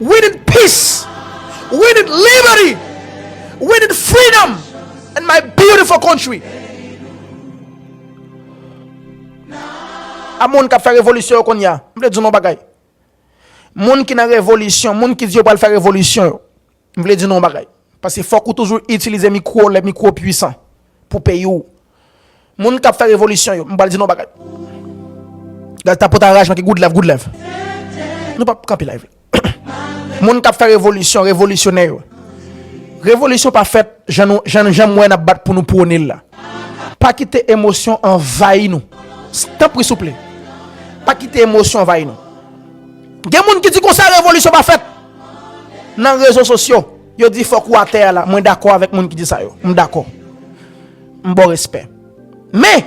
We need peace we need liberty we need freedom in my beautiful country A moun kap fè revolisyon yo konya M vle di nou bagay Moun ki nan revolisyon Moun ki di yo pral fè revolisyon yo M vle di nou bagay Pase fòk ou toujou itilize mikwo lè mikwo pwisan Pou peyi ou Moun kap fè revolisyon yo, m pral di nou yon bagay. Gad ta pota raj man ki good love, good love. Nou pap kanpe live la. Moun kap fè revolisyon, revolisyonè yo. Revolisyon pa fèt jan nou jan nou jan mwen nap bat pou nou pwone la. Pa kite emosyon anvayi nou. Tanpri souple. Pa kite emosyon anvayi nou. Gen moun ki di konsa revolisyon pa fèt. Nan rezo sosyo, yo di fok ou atè a la. Mwen dakò avèk moun ki di sa yo. M dakò. M baw respè. Men!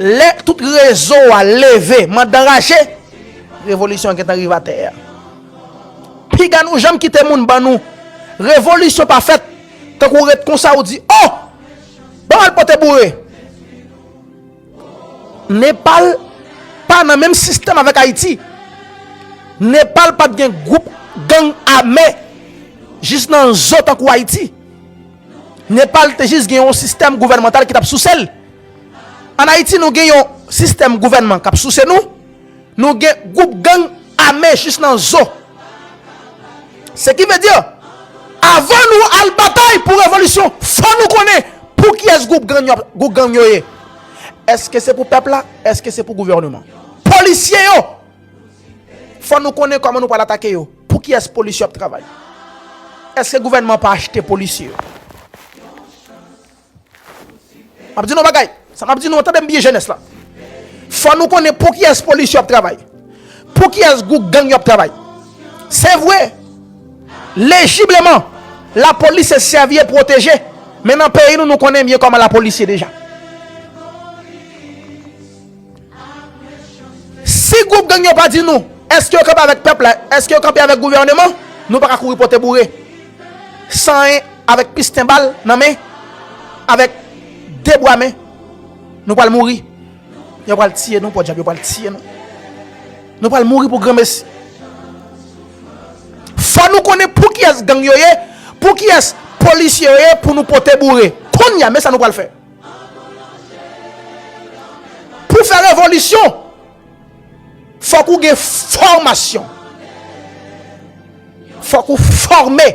Lè tout rezo a leve mand anraje, revolisyon an gentan rive atè a. Piga nou janm kite moun ban nou revolisyon pa fèt, tankou w ret konsa ou di, Oh! Banm al pote boure! Nepal pa nan menm sistèm avèk Ayiti. Nepal pat gen gwoup gang ame jis nan zo tankou Ayiti. Nepal te jis gen yon sistèm gouvènmantal ki t ap souse l. An Ayiti nou gen yon sistèm gouvènman k ap souse nou, nou gen gwoup gang ame jis nan zo. Se ki vle di, avan nou al batay pou revolisyon, fò nou konnen pou kiyès gwoup gang yo ye. Èske se pou pèp la? Èske se pou gouvènman? Polisye yo! Fò nou konnen kòman nou pral atake yo. Pou kiyès polis yo ap travay? Eske gouvènman an pa achte polisye yo? M ap di nou yon bagay, sa m ap di nou an, tande m byen jenès la. Fò nou konnen pou kiyès polis yo ap travay? Pou kiyès gwoup gang yo ap travay? Se vre, lejibleman, lapolis se sèvi e pwoteje, men nan peyi nou, nou konnen byen kòman lapolis ye deja. Si gwoup gang yo pa di nou, eske yo kanpe avèk pèp la, eske yo kanpe avèk gouvèneman, nou pa ka kouri pote boure, san 1 avèk pisten bal nan men, avèk 2 bwa men, nou pral mouri. Yo pral tiye nou, pòdjab, yo pral tiye nou. Nou pral mouri pou granmesi. Fò nou konnen pou kiyès gang yo ye, pou kiyès polisye yo ye pou nou pote boure. Kounye a, men sa nou pral fè. Pou fè revolisyon, fòk ou gen fòmasyon. Fòk ou fòme.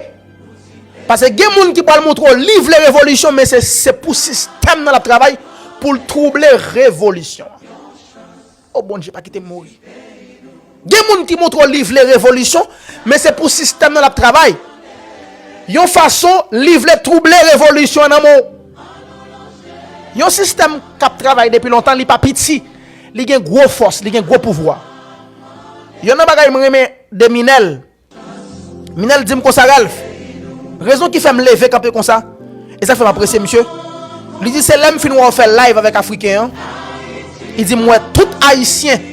Pase gen moun ki pral montre w li vle revolisyon men se pou sistèm nan l ap travay pou l twouble revolisyon an. Oh Bondye pa kitem mouri. Gen moun ki montre w li vle revolisyon, men se pou sistèm nan l ap travay. Yon fason, li vle twouble revolisyon an nan men w. Yon sistèm k ap travay depi lontan, li pa piti. Li gen gwo fòs, li gen gwo pouvwa. Yonn nan bagay m renmen de Minel, Minel dim konsa Ralph, rezon ki fèm leve kanpe konsa, e sak fèm apresye misye, li di se lèm fin wè w fè live avèk afriken an, li di m wè tout ayisyen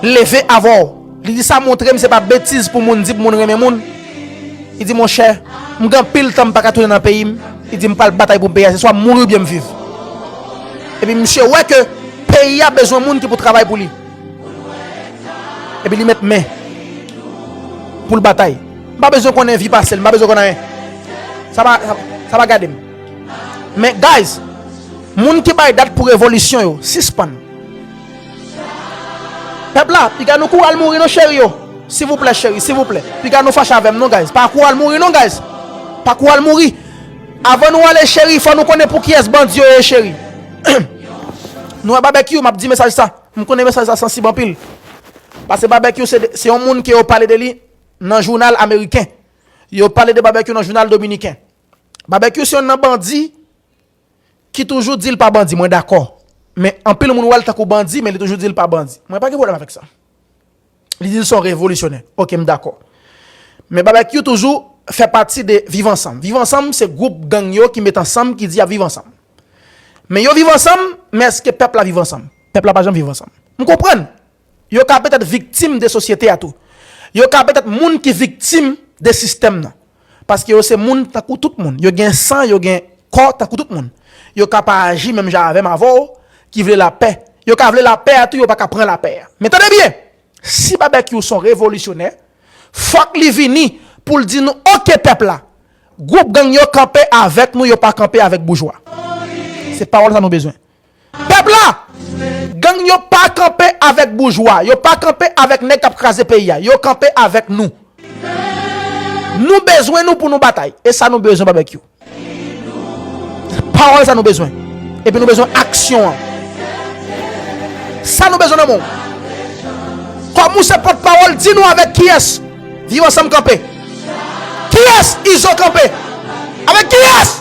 leve avè w, li di sa montrem se pa betiz pou moun di pou moun renmen moun, li di monchè m gen anpil tan m paka tounen nan peyi m, li di m pral batay pou peyi a se swa m mouri oubyen m viv. Epi misye wè ke peyi a bezwen moun ki pou travay pou li. Epi li met men pou l batay. M pa bezwen konnen vi pase l, m pa bezwen konnen anyen. Sa pa, sa pa gade m. Men guys, moun ki bay dat pou revolisyon yo, sispann. Pèp la, piga nou kouri al mouri non cheri yo. Sivouplè cheri, sivouplè. Piga nou fache avè m non guys. Pa kouri al mouri non guys. Pa kouri al mouri. Avan nou ale cheri, fò nou konnen pou kiyès bandi yo ye cheri. Nou wè babekyou, m ap di mesaj sa. M konnen mesaj sa sansib anpil, pase Babekyou se yon moun ke yo pale de li nan jounal ameriken, yo pale de Babekyou nan jounal dominiken. Babekyou se yon nan bandi ki toujou di l pa bandi, mwen dakò. Men anpil moun wè l tankou bandi men li toujou di l pa bandi. Mwen pa gen pwoblèm avèk sa. Li di li son revolisyonè. Ok m dakò. Men babekyou toujou fè pati de viv ansanm. Viv ansanm se gwoup gang yo ki met ansanm ki di yap viv ansanm. Men yo viv ansanm, men eske pèp la viv ansanm? Pèp la pa janm viv ansanm. M konprann. Yo ka petèt viktim de sosyete a tou. Yo ka petèt moun ki viktim de sistèm nan. Paske yo se moun tankou tout moun. Yo gen san, yo gen kò tankou tout moun. Yo ka pa aji menm jan avè m, avè w, ki vle lapè. Yo ka vle lapè a tou, yo pa ka pran lapè a. Men tande byen! Si Babekyou s on revolisyonè, fòk li vini pou l di nou, ok pèp la, gwoup gang yo kanpe avèk nou, yo pa kanpe avèk boujwa. Se pawòl sa nou bezwen. Pèp la! Gang yo pa kanpe avèk boujwa, yo pa kanpe avèk nèg kap kraze peyi a, yo kanpe avèk nou. Nou bezwen nou pou nou batay. E sa nou bezwen Babekyou. Pawòl sa nou bezwen. Epi nou bezwen aksyon an. Sa nou bezwen nan men w. Kòm ou se pòt pawòl, di nou avèk kiyès Viv Ansanm kanpe. Kiyès Izo kanpe. Avèk kiyès!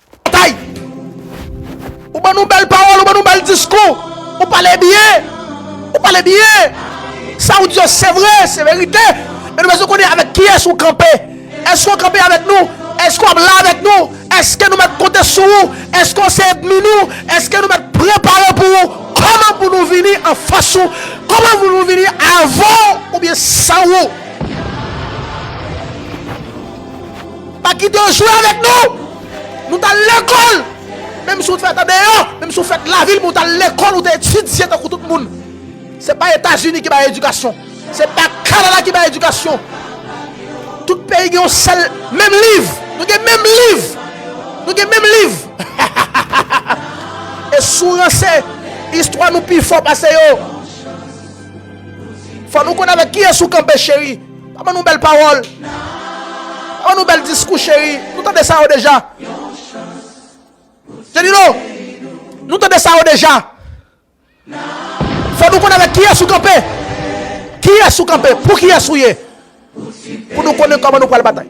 Tay! Ou ban nou bèl pawòl, ou ban nou bèl diskou, ou pale byen, ou pale byen. Sa ou di yo se vre, se verite. Men nou bezwen konnen avèk kiyès ou kanpe. Èske ou kanpe avèk nou? Èske ou ap la avèk nou? Èske nou mèt konte sou ou? Èske ou se edmi nou? Èske nou mèt prepare pou ou? Kòman pou nou vini anfas ou? Kòman pou nou vini avan ou oubyen san ou? Pa kite yo jwe avèk nou! Nou t al lekòl! Menm si w te fèt andeyò, menm si w fèt lavil men w t al lekòl, ou te etidye tankou tout moun. Se pa Etazini ki bay edikasyon. Se pa Kanada ki bay edikasyon. Tout peyi gen yon sèl menm liv. Nou gen menm liv. Nou gen menm liv. E si w ranse, istwa nou pi fò pase yo. Fò nou konn avèk kiyès ou kanpe cheri. Pa ban nou bèl pawòl. Pa ban nou bèl diskou cheri. Nou tande sa yo deja. Jenilo, nou tande sa yo deja. Fò nou konnen avèk kiyès ou kanpe. Kiyès ou kanpe. Pou kiyès ou ye. Pou nou konnen kòman nou pral batay.